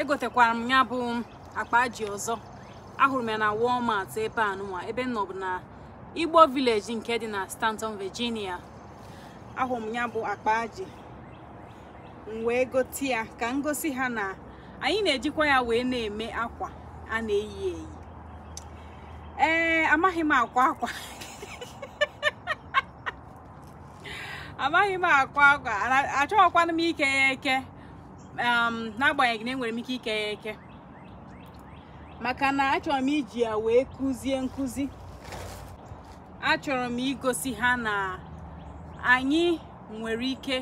egotekwara m ya bụ akpa aji ọzọ ahụrụ m ya na Walmart ebe a nụnwa ebe m nọ bụ na Igbo Village nke dị na Staunton Virginia ahụrụ m ya bụ akpa aji m wee gote ya ka m gosi ha na anyị na-ejikwa ya wee na-eme akwa a na-eyi eyi ee amaghị m akwa akwa amaghị m akwa akwa achọghịkwana m ike ya eke n'agbanyeghị na enwere m ike ike ya eke maka na achọrọ m iji ya wee kụzie nkụzi achọrọ m igosi ha na anyị nwere ike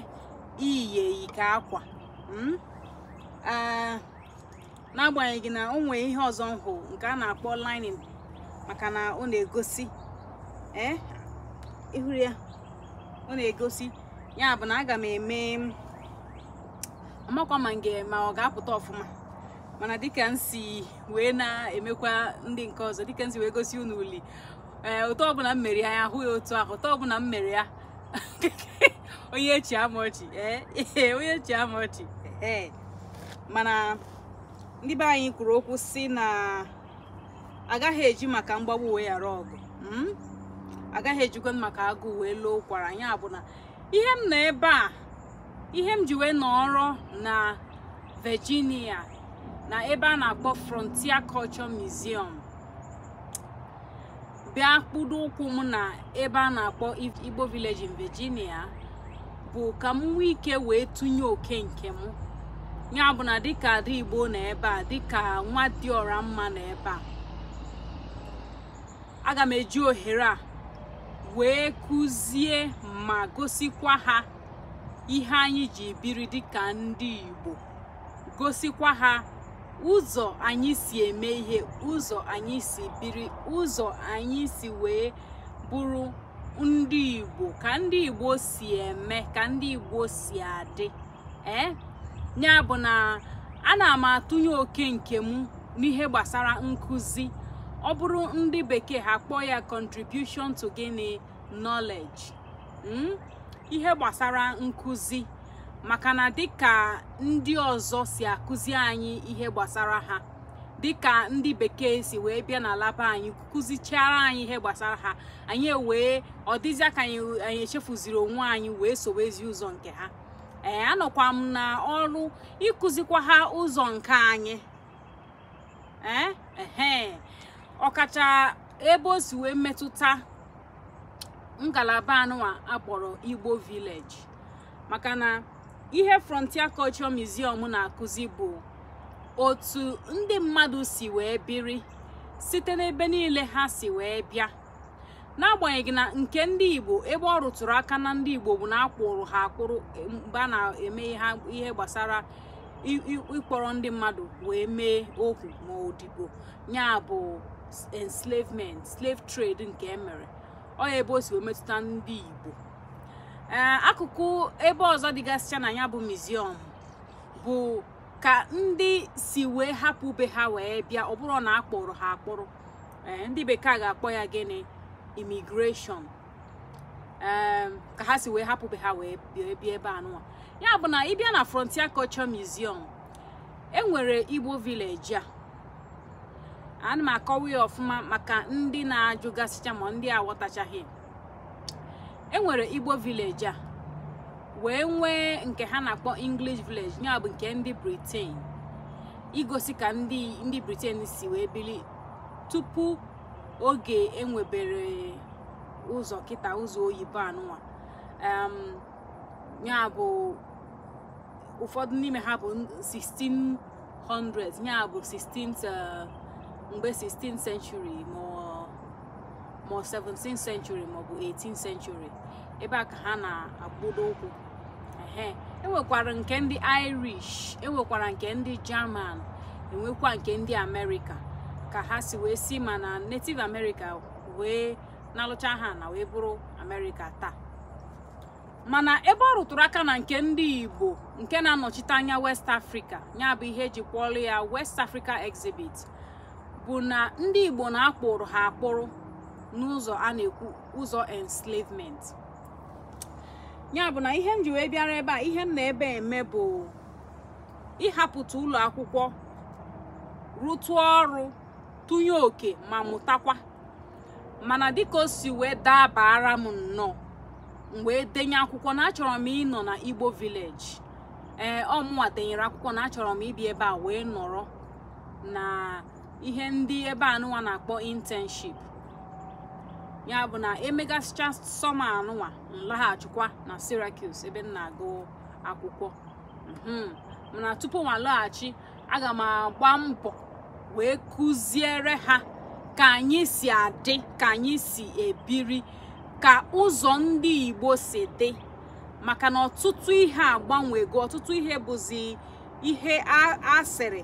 iyi ya eyi ka akwa hmm? n'agbanyeghị na o nweghị ihe ọzọ nhụ nke a na-akpọ lining maka na ọ na-egosi eh, ị hụrụ ya ọ na-egosi ya bụ na aga m eme amakwa ma nge ma ọ ga-apụta ọfụma mana dịka m si wee na-emekwa ndị nke ọzọ dịka m si wee gosi unu uli ee otu ọbụla m mere ya ya ahụ ya otu ahụ otu ọbụla m mere ya onye achịla m ọchị ee ee, onye achịla m ọchị ee mana ndị be anyị kwuru okwu sị na agaghị eji maka mgbagbu wee yara ọgụ mm? agaghị ejikwa maka agụụ wee loo ụkwara ya bụ na ihe m nọ ebe a ihe m ji wee nọrọ na Virginia na ebe a na-akpọ Frontier Culture Museum bịa kpụdo ụkwụ m na ebe a na-akpọ Igbo Village in Virginia bụ ka m nwee ike wee tụnye oke nke m ya bụ na dịka ada Igbo na ebe a dịka nwa dị ọra mma na ebe a aga m eji ohere a wee kụzie ma gosikwa ha ihe anyị ji biri dịka ndị Igbo gosikwa ha ụzọ anyị si eme ihe ụzọ anyị si biri ụzọ anyị si wee bụrụ ndị Igbo ka ndị Igbo si eme ka ndị Igbo si adị ee ya bụ na ana m atụnye oke nke m n'ihe gbasara nkụzi ọ bụrụ ndị bekee ha kpọọ ya contribution to gịnị knowledge hmm? ihe gbasara nkụzi maka na dịka ndị ọzọ si akụzi anyị ihe gbasara ha dịka ndị bekee si wee bịa n'ala be anyị kụzichaara anyị ihe gbasara ha anyị wee ọ dịzịa ka anyị echefuziri onwe anyị wee sowezie ụzọ nke ha ee anọkwa m na ọrụ ịkụzikwa ha ụzọ nke anyị ee ehe ọkacha ebe o si wee metụta ngalaba anụwa akpọrọ Igbo village maka na ihe Frontier Culture Museum na-akụzi bụ otu ndị mmadụ si wee biri site n'ebe niile ha si wee bịa n'agbanyeghị na nke ndị igbo ebe ọ rụtụrụ aka na ndị igbo bụ na akpụrụ ha akpụrụ e, mgbe a na-eme ihe gbasara ịkpọrọ ndị mmadụ wee mee ohu ma odibo ya bụ enslavement slave trade nke emere ọ ya ebe o si wee metụta ndị igbo eh, akụkụ ebe ọzọ dịgasịcha na ya bụ museum bụ ka ndị si wee hapụ be ha wee bịa ọ bụrọ na akpụrụ ha akpụrụ eh, ndị bekee ga-akpọ ya gịnị immigration eh, ka ha si wee hapụ be ha wee bịa ebe anụwa ya bụ na ịbịa na Frontier Culture Museum enwere Igbo village a ana m akọwa ya ọfụma maka ndị na-ajụgasịcha ma ndị aghọtachaghị e nwere igbo village a wee nwee nke ha na-akpọ english village ya bụ nke ndị britain igosi ka ndị britain si wee bili tupu oge enwebere ụzọ kịta ụzọ oyibo anụnwa ya bụ ụfọdụ n'ime ha bụ 1600 ya bụ 16 uh, mgbe 16th century ma ma 17th century maọbụ 18th century ebe a ka ha na-agbado ụkwụ ehe enwekwara nke ndị irish enwekwara nke ndị german enwekwa nke ndị amerịka ka ha si wee si ma na native america wee na-alụcha ha na wee bụrụ amerịka taa mana ebe ọ rụtụrụ aka na nke ndị igbo nke na-anọchite anya west africa ya bụ ihe eji kpọọlụ ya west africa exhibit bụ na ndị Igbo na akpụrụ ha akpụrụ n'ụzọ a na-ekwu ụzọ enslavement ya bụ na ihe m ji wee bịara ebe a ihe m na ebe eme bụ ịhapụta ụlọ akwụkwọ rụtụ ọrụ tụnye oke ma mụtakwa mana dịka o si wee dabara m nnọọ m wee denye akwụkwọ na achọrọ m ịnọ na Igbo village ee ọmụwa denyere akwụkwọ na achọrọ m ịbịa ebe a wee nọrọ na ihe ndị ebe anụnwa na-akpọ internship ya bụ na emegasịcha summer anụnwa m laghachikwa na Syracuse ebe m na-agụ akwụkwọ mhm. mana tupu mụ alaghachi aga m agba mbọ wee kụziere ha ka anyị si adị ka anyị si ebiri ka ụzọ ndị Igbo si dị maka na ọtụtụ ihe agbanwego ọtụtụ ihe bụzi ihe a sịrị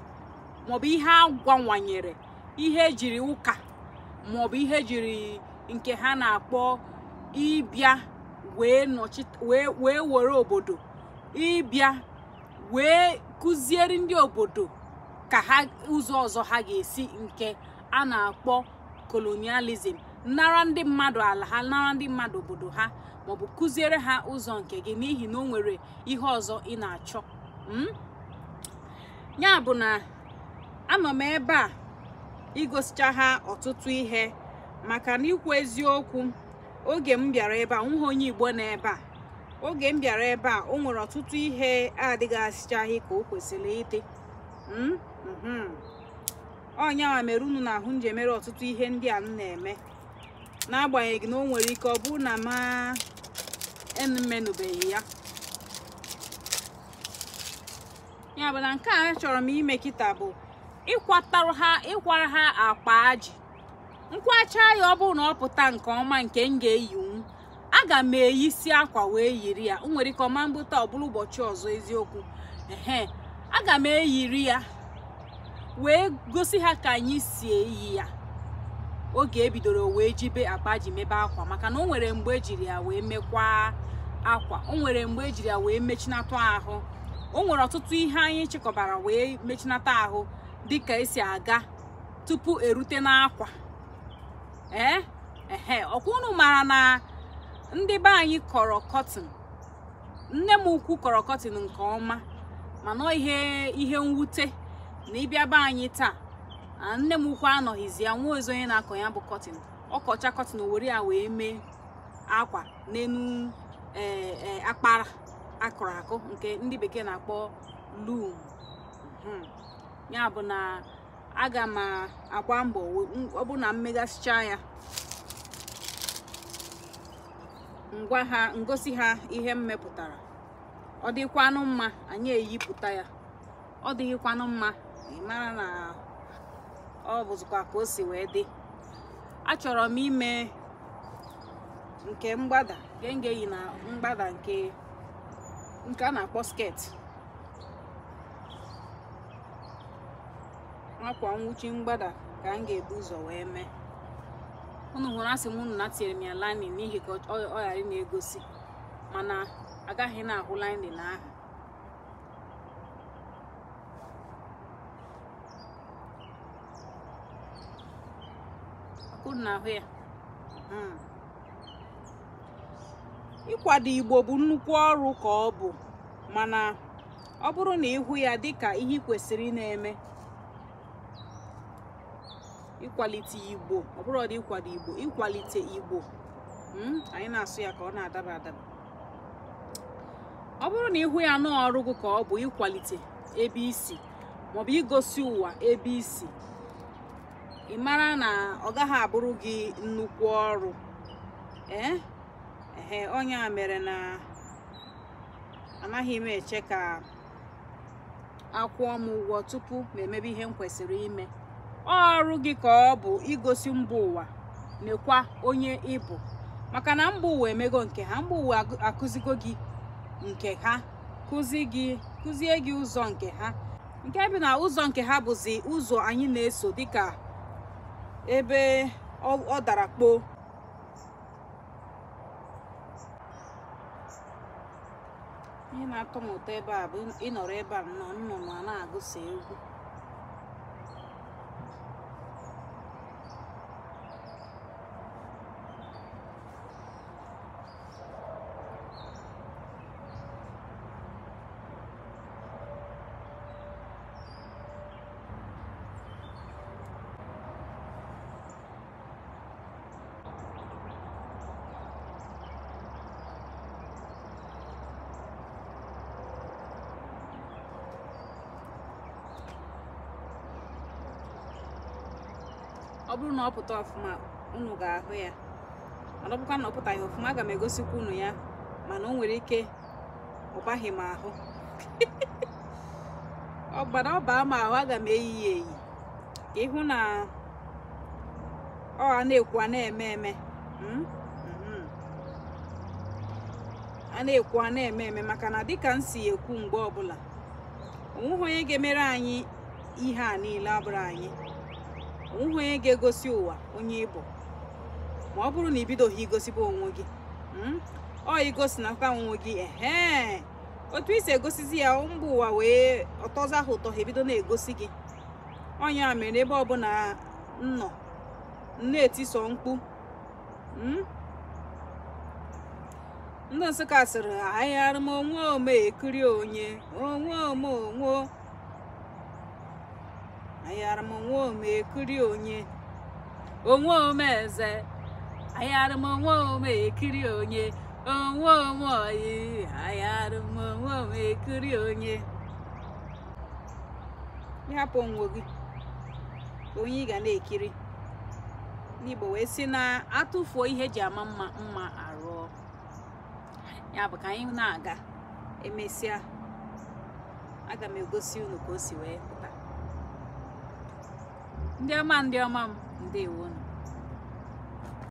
maọbụ ihe a gwanwanyere ihe ejiri ụka maọbụ ihe ejiri nke ha na-akpọ ịbịa wee were obodo ịbịa wee kụziere ndị obodo ka ha ụzọ ọzọ ha ga-esi nke a na-akpọ colonialism nara ndị mmadụ ala ha nara ndị mmadụ obodo ha maọbụ kụziere ha ụzọ nke gị n'ihi na o nwere ihe ọzọ ị na-achọ hmm? ya bụ na anọ m ebe a igosicha ha ọtụtụ ihe maka na ikwu eziokwu oge m bịara ebe a nweghị onye Igbo na ebe a oge m bịara ebe a o nwere ọtụtụ ihe adịgasịchaghị ka o kwesịrị ịdị hmm? hmm. ọ yanwa mere unu na-ahụ m ji emere ọtụtụ ihe ndị a m na-eme n'agbanyeghị na o nwere ike ọ bụrụ na mụ emenụbeghị ya ya bụ na nke achọrọ m ime kịta bụ ịkwara ha akpa ajị m kwacha ya ọ bụrụ na ọ pụta nke ọma nke m ga-eyinwu aga m eyisi akwa wee yiri ya o nwere ike ọ ma-abụ taa ọ bụrụ ụbọchị ọzọ eziokwu ehe aga m eyiri ya wee gosi ha ka anyị si eyi ya oge ebidoro wee jibe akpa ajị mebe akwa maka na o nwere mgbe ejiri ya wee mekwaa akwa o nwere mgbe ejiri ya wee mechinata ahụ o nwere ọtụtụ ihe anyị chịkọbara wee mechinata ahụ dịka esi aga tupu erute n'akwa ee ehe ọkwa unu mara na ndị be anyị kọrọ cotton nne m ukwu kọrọ cotton nke ọma mana ọ ihe mwute na ị bịa be anyị taa nne m ukwu anọghịzi ya nweghịzi onye na-akọ ya bụ cotton ọ kọcha cotton were ya wee mee akwa n'enu e, e, akpara akụrụ akụ nke ndị bekee na-akpọ loom hmm. ya bụ na aga m agba mbọ ọ bụ na m megasịcha ya m gwa ha m gosi ha ihe m mepụtara ọ dịkwanụ mma anyị eyipụta ya ọ dịghịkwanụ mma ị mara na ọ bụzikwa ka o si wee dị achọrọ m ime nke mgbada nke m ga-eyi na mgbada nke nke a na-akpọ skirt akwa nwụchi mgbada ka m ga-ebu ụzọ wee mee unu hụrụ asị m unu na tinyere m ya lining n'ihi ka ọ ghara ịna-egosi mana a gaghị na-ahụ lining ahụ unu na-ahụ ya hmm. ịkwado igbo bụ nnukwu ọrụ ka ọ bụ mana ọ bụrụ na ị hụ ya dịka ihe kwesịrị na-eme ịkwalite igbo ọ bụrọdị ịkwado igbo ịkwalite igbo hmm, anyị na-asụ ya ka ọ na-adaba adaba ọ bụrụ na ị hụ ya na ọrụ gị ka ọ bụ ịkwalite ebe i si maọbụ igosi ụwa ebe i si ị mara na ọ gaghị abụrụ gị nnukwu ọrụ ee eh? ehe ọ ya mere na anaghị m eche ka a kwụọ m ụgwọ tupu m emebe ihe m kwesịrị ime ọrụ gị ka ọ bụ igosi mba ụwa nekwa onye ị bụ maka na mba ụwa emego nke ha mba ụwa akụzigo gị nke ha kụzie gị ụzọ nke ha nke bụ na ụzọ nke ha bụzi ụzọ anyị na-eso dịka ebe ọ dara kpoo ihe na-atọ m ụtọ ebe a bụ ị nọrọ ebe a nnọọ nnụnụ ana-agụsa egwu ọ bụrụ na ọ pụta ọfụma unu ga-ahụ ya mana ọ bụkwa na ọ pụtaghị ọfụma aga m egosikwa unu ya mana o nwere ike ọ baghị m ahụ ọ bara ọ baa m ahụ aga m eyi ya eyi ka ị hụ na ọ a na-ekwu a na-eme eme hmm? Hmm. a na-ekwu a na-eme eme maka na dịka m si ekwu mgbe ọbụla onweghị onye ga-emere anyị ihe a niile abụrọ anyị onweghị onye ga-egosi ụwa onye ị bụ ma ọ bụrụ na i bidoghị igosibe onwe gị hmm? ọ i gosinata onwe gị ehe otu i si egosizi ya mba ụwa wee ọ tọzie ha ụtọ ha ebido na-egosi gị onye a mere ebe ọbụla nnọ na-etiso mkpu hmm? ndị nsụka sịrị ayara m onwe m ekiri onye onwe m onwe ayara m onwe m ekiri onye onwe m eze ayara m onwe m ekiri onye onwe m oyi ayara m onwe m ekiri onye ị hapụ onwe gị onye ị ga na-ekiri ndị igbo wee sị na a tụfuo ihe e ji ama mma mma arụọ ya bụ ka anyị na-aga emesịa aga m egosi unu ka o si wee pụta ndị ọma m ndị ọma m ndewonụ